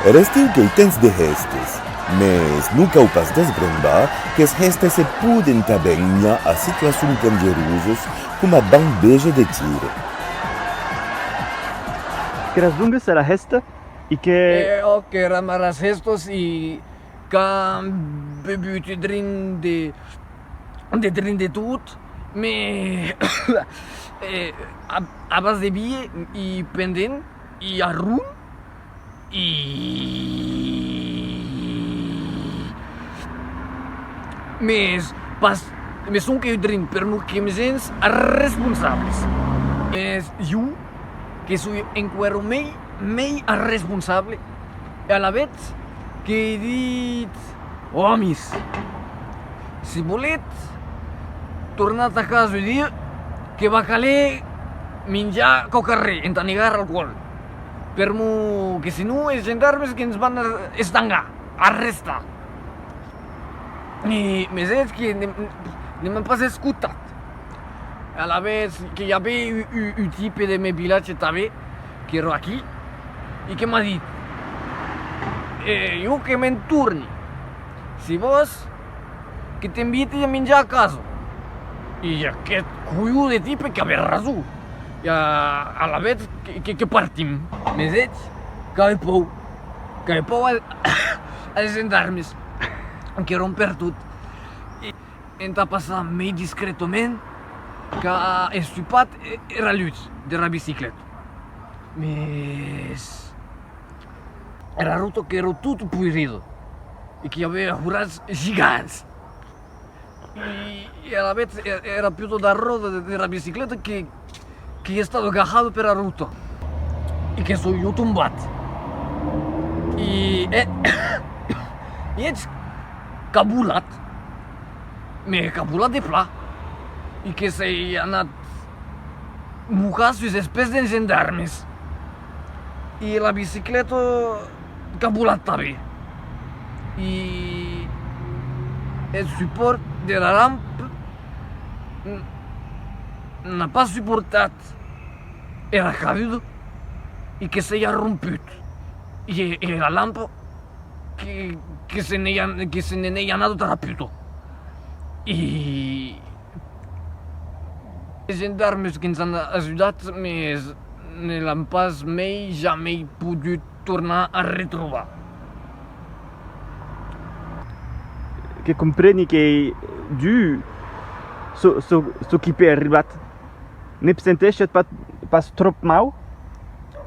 Er estiu qu'ei temps de hèstes, mès non cau pas desbrembar qu'es hèstes se poden tanben unhar a situacions dangerosas coma banh veja de tiro. Qu'eras dongues era hèsta e que. Òc, eram aras hèstas e. qu'an bebut e drin de de drin de tot me abans de bie i pendent i arron i mes pas me sonque eu drin per lo que me sens responsables es jo que soi enqüèro mei mei arresponsable e alavetz que i dit, Omis, si volètz, tornatz a casa e dir que va caler minjar qu'au carrèr entà negar alcoòl, permor que senon es gendarmes que ens van estangar, arrestar. e mes es que ne m'an pas escotat e alavetz que i avè un tipe de mes vilatge tanben qu'èra aquí e que m'a dit e jo que me'n torni si vòs que t'inviti a minjar a casa e aqueth coiu de tipe qu'avè rason e alavetz que partim mes es qu'ai pòur Que le pòu a les gendarmes que ròm per tot e entà passar mei discretament qu'a estupat era lutz dera bicicleta, mes era rota qu'èra tot poirido e qu'i avea horats gigants. e alavetz èra piutat la ròda dera bicicleta que i estado gajado pera ruta e que soi jo tombat e e eth cabulat me hè cabulat de plan e que sei anat mocar sus es pès des gendarmes e era bicicleta qu'a volat tanben y eth supòrt dera lamp n'a pas suportat era caluda y que se i a romput y era lamp que se n'ei anada tara puta y es gendarmes que ens an ajudat mes ne l'an pas mei jamei podut tornar a retrobar. Que compreni qu'ei dur çò qui p'ei arribat. Ne p' sentèshetz pas tròp mau?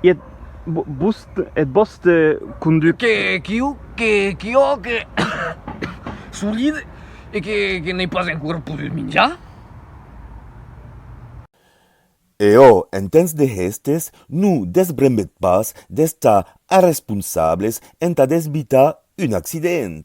E eth vòste conductor? Que jo que solide e que n'ei pas encora podut minjar? E ò, en temps de hèstes, no desbrembèt pas d'estar arresponsables entà desbitar un accident.